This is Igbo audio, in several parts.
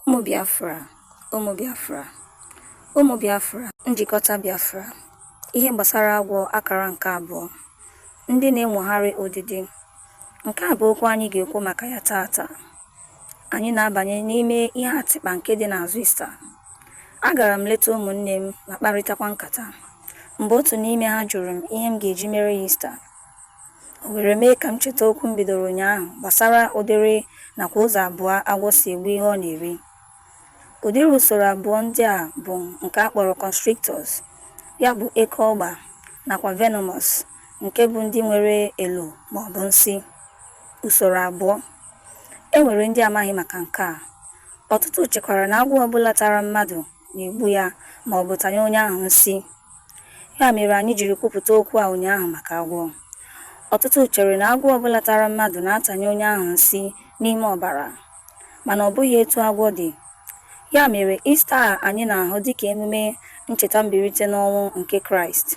ụmụ biafra ụmụ biafra ụmụ biafra njikọta biafra ihe gbasara agwọ akara nke abụọ ndị na-enwogharị odidi nke a bụ okwu anyị ga-ekwu maka ya taata anyị na-abanye n'ime ihe atịkpa nke dị n'azụ ista agara m leta ụmụnne m ma kparịtakwa nkata mgbe otu n'ime ha jụrụ m ihe m ga-eji mere ya ista O were mee ka m cheta okwu m bidoro ụnyaahụ gbasara ụdịrị nakwa ụzọ abụọ agwọ si egbu ihe ọ na-eri. Ụdịrị usoro abụọ ndị a bụ nke a kpọrọ constrictors, ya bụ eke ọgba, nakwa venomous, nke bụ ndị nwere elo ma ọ bụ nsị. Usoro abụọ. E nwere ndị amaghị maka nke a. Ọtụtụ chekwara na agwọ ọbụla tara mmadụ na-egbu ya ma ọ bụ tanye onye ahụ nsị. Ya mere anyị jiri kwupụta okwu a ụnyaahụ maka agwọ. Ọtụtụ chere na agwọ ọbụla tara mmadụ na-atanye onye ahụ nsị n'ime ọbara, mana ọ bụghị etu agwọ dị. Ya mere Ista a anyị na-ahụ dịka emume ncheta mbilite n'ọnwụ nke Kraịst,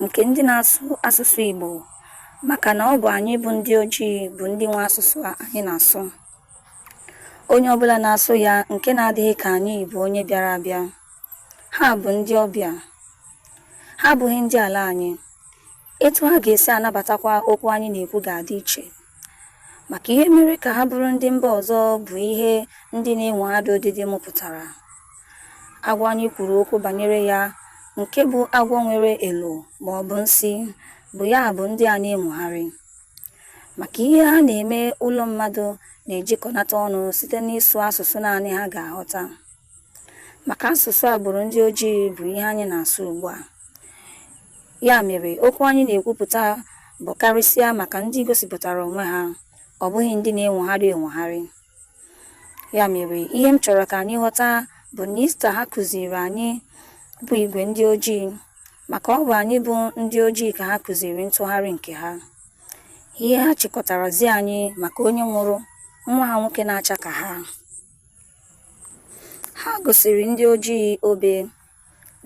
nke ndị na-asụ asụsụ Igbo maka na ọ bụ anyị bụ ndị ojii bụ ndị nwe asụsụ a anyị na-asụ. Onye ọbụla na-asụ ya nke na-adịghị ka anyị bụ onye bịara abịa. Ha bụ ndị ọbịa. Ha abụghị ndị ala anyị. Etu ha ga-esi anabatakwa okwu anyị na-ekwu ga-adị iche. Maka ihe mere ka ha bụrụ ndị mba ọzọ bụ ihe ndị na-enwogharị odidi mụpụtara. Agwọ anyị kwuru okwu banyere ya nke bụ agwọ nwere elo ma ọ bụ nsị bụ ya bụ ndị a na-enwogharị. Maka ihe ha na-eme ụlọ mmadụ na-ejikọnata ọnụ site n'ịsụ asụsụ naanị ha ga-aghọta. maka asụsụ agbụrụ ndị ojii bụ ihe anyị na-asụ ugbu a ya mere okwu anyị na-ekwupụta bụ karịsịa maka ndị gosipụtara onwe ha ọ bụghị ndị na-enwogharị enwogharị ya mere ihe m chọrọ ka anyị ghọta bụ na ista ha kụziri anyị bụ igwe ndị ojii maka ọ bụ anyị bụ ndị ojii ka ha kụziri ntụgharị nke ha ihe ha chịkọtara zi anyị maka onye nwụrụ nwa ha nwoke na-acha ka ha Ha gosiri ndị ojii obe,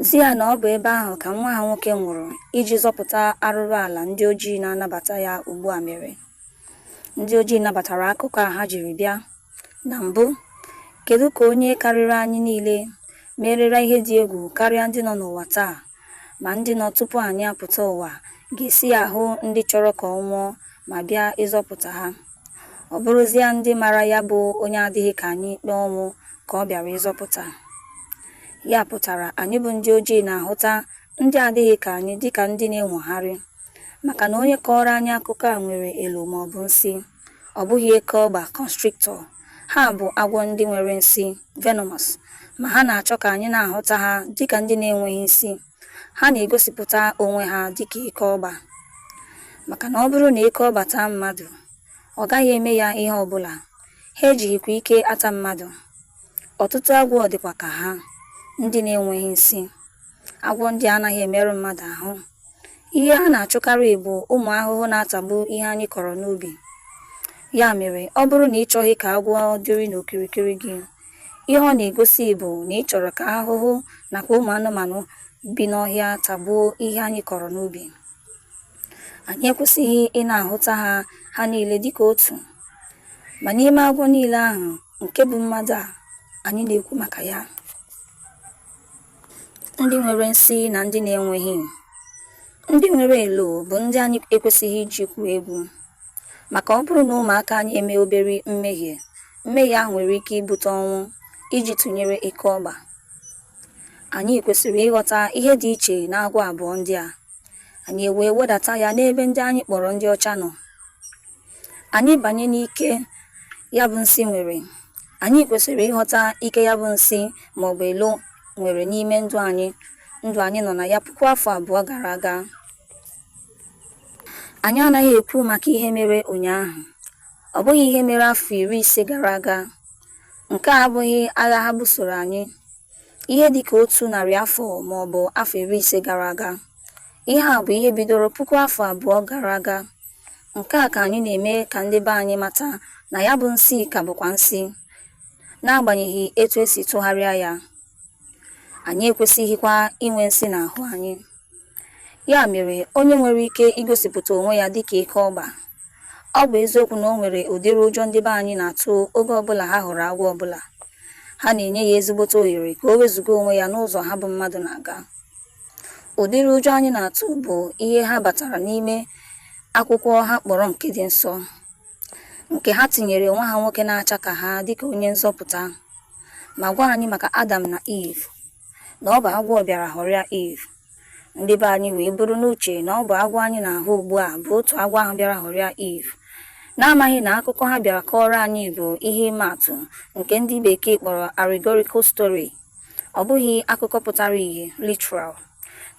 zi ya na ọ bụ ebe ahụ ka nwa ha nwoke nwụrụ iji zọpụta arụrụ ala ndị ojii na-anabata ya ugbu a mere. Ndị ojii nabatara akụkọ a ha jiri bịa. Na mbụ, kedu ka onye karịrị anyị niile merela ihe dị egwu karịa ndị nọ n'ụwa taa ma ndị nọ tupu anyị apụta ụwa ga-esi ahụ ndị chọrọ ka ọ nwụọ ma bịa ịzọpụta ha? Ọ bụrụzịa ndị mara ya bụ onye adịghị ka anyị ikpe ọnwụ ka ọ bịara ịzọpụta. Ya pụtara anyị bụ ndị ojii na-ahụta ndị adịghị ka anyị dịka ndị na-enwogharị maka na onye kọọrọ anyị akụkọ a nwere elo maọbụ nsi, ọ bụghị eke ọgba, constrictor. Ha bụ agwọ ndị nwere nsi, venomous, ma ha na-achọ ka anyị na-ahụta ha dịka ndị na-enweghị nsi. ha na-egosipụta onwe ha dịka eke ọgba maka na ọ bụrụ na eke ọgba taa mmadụ ọ gaghị eme ya ihe ọbụla ha ejighịkwa ike ata mmadụ ọtụtụ agwọ dịkwa ka ha ndị na-enweghị nsi agwọ ndị anaghị emerụ mmadụ ahụ ihe ha na-achụkarị bụ ụmụ ahụhụ na-atagbu ihe anyị kọrọ n'ubi ya mere ọ bụrụ na ị chọghị ka agwọ dịrị n'okirikiri gị Ihe ọ na-egosi bụ na ị chọrọ ka ahụhụ nakwa ụmụ anụmanụ bi n'ọhịa tagbuo ihe anyị kọrọ n'ubi. Anyị ekwesịghị ị na-ahụta ha ha niile dịka otu. Ma n'ime agwọ niile ahụ, nke bụ mmadụ a anyị na-ekwu maka ya, ndị nwere nsi na ndị na-enweghị, ndị nwere elo bụ ndị anyị ekwesịghị iji gwuo egwu. Maka ọ bụrụ na ụmụaka anyị emee obere mmehie, mmehie ahụ nwere ike ibute ọnwụ, iji tụnyere eke ọgba. Anyị kwesịrị ịghọta ihe dị iche n'agwọ abụọ ndị a, anyị ewee wedata ya n'ebe ndị anyị kpọrọ ndị ọcha nọ. Anyị banye n'ike ya bụ nsi nwere, anyị kwesịrị ịghọta ike ya bụ nsi maọbụ elo nwere n'ime ndụ anyị nọ na ya puku afọ abụọ gara aga. Anyị anaghị ekwu maka ihe mere ụnyaahụ, ọ bụghị ihe mere afọ iri ise gara aga. Nke a abụghị agha ha busoro anyị ihe dị ka otu narị afọ ma ọ bụ afọ iri ise gara aga. Ihe a bụ ihe bidoro puku afọ abụọ gara aga. Nke a ka anyị na-eme ka ndị be anyị mata na ya bụ nsi ka bụkwa nsi, n'agbanyeghị etu e si tụgharịa ya. anyị ekwesịghịkwa inwe nsi n'ahụ anyị. Ya mere, onye nwere ike igosipụta onwe ya dịka eke ọgba. Ọ bụ eziokwu na o nwere ụdịrị ụjọ ndị be anyị na-atụ oge ọbụla ha hụrụ agwọ ọbụla, ha na-enye ya ezigbote ohere ka o wezụga onwe ya n'ụzọ ha bụ mmadụ na-aga. Ụdịrị ụjọ anyị na-atụ bụ ihe ha batara n'ime akwụkwọ ha kpọrọ nke dị nsọ. nke ha tinyere nwa ha nwoke na-acha ka ha dịka onye nzọpụta ma gwa anyị maka Adam na Eve na ọ bụ agwọ bịara ghọrịa Eve ndị be anyị wee buru n'uche na ọ bụ agwọ anyị na-ahụ ugbu a bụ otu agwọ ahụ bịara ghọrịa Eve n'amaghị na akụkọ ha bịara kọọrọ anyị bụ ihe ịma atụ nke ndị bekee kpọrọ allegorical story ọ bụghị akụkọ pụtara ihe literal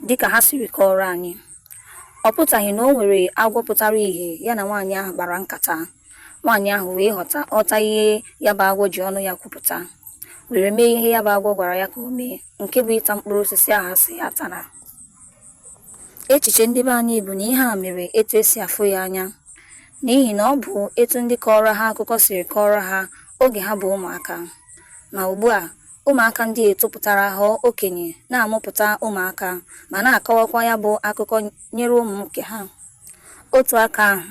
dịka ha siri kọọrọ anyị ọ pụtaghị na o nwere agwọ pụtara ihe ya na nwaanyị ahụ kpara nkata nwaanyị ahụ wee ghọta ọta ihe ya bụ agwọ ji ọnụ ya kwupụta were mee ihe ya bụ agwọ gwara ya ka o mee nke bụ ịta mkpụrụ osisi ahụ a sị ya atana echiche ndị be anyị bụ na ihe a mere etu e si afụ ya anya n'ihi na ọ bụ etu ndị kọọrọ ha akụkọ siri kọọrọ ha oge ha bụ ụmụaka Ma ugbu a, ụmụaka ndị a etopụtara ghọọ okenye, na-amụpụta ụmụaka, ma na-akọwakwa ya bụ akụkọ nyere ụmụ nke ha. Otu aka ahụ,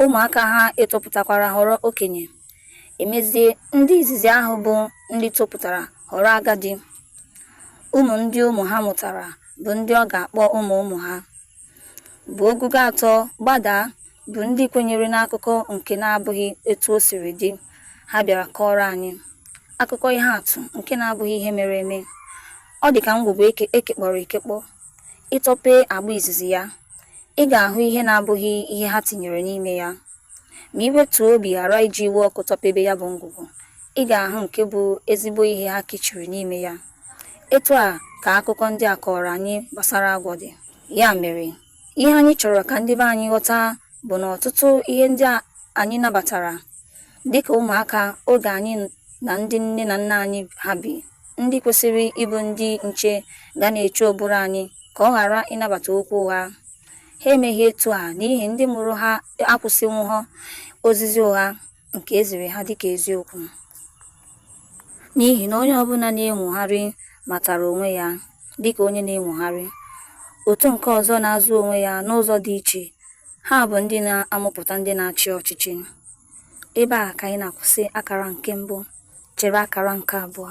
ụmụaka ha etopụtakwara ghọrọ okenye. Emezie, ndị izizi ahụ bụ ndị topụtara ghọrọ agadi. Ụmụ ndị ụmụ ha mụtara bụ ndị ọ ga-akpọ ụmụ ụmụ ha. bụ ogogo atọ gbadaa bụ ndị kwenyere n'akụkọ nke na-abụghị etu o siri dị ha bịara kọọrọ anyị akụkọ ihe atụ nke na-abụghị ihe mere eme ọ dị ka ngwugwu e kekpọrọ ekekpọ ị tọpee agba izizi ya ị ga-ahụ ihe na-abụghị ihe ha tinyere n'ime ya Ma i wetuo obi ghara iji iwe ọkụ tọpebe ya bụ ngwugwu, ị ga-ahụ nke bụ ezigbo ihe ha kechiri n'ime ya. Etu a ka akụkọ ndị a kọọrọ anyị gbasara agwọ dị. Ya mere, ihe anyị chọrọ ka ndị be anyị ghọta bụ na ọtụtụ ihe ndị a anyị nabatara dịka ụmụaka oge anyị na ndị nne na nna anyị ha bi, ndị kwesịrị ịbụ ndị nche ga na-eche ụbụrụ anyị ka ọ ghara ịnabata okwu ụgha. Ha emeghị etu a n'ihi ndị mụrụ ha akwụsịnwughọ ozizi ụgha nke e ziri ha dịka eziokwu. N'ihi na onye ọbụla na-enwogharị matara onwe ya dịka onye na-enwogharị, otu nke ọzọ na-azụ onwe ya n'ụzọ dị iche, ha bụ ndị na-amụpụta ndị na-achị ọchịchị. Ebe a ka anyị na-akwụsị akara nke mbụ, chere akara nke abụọ.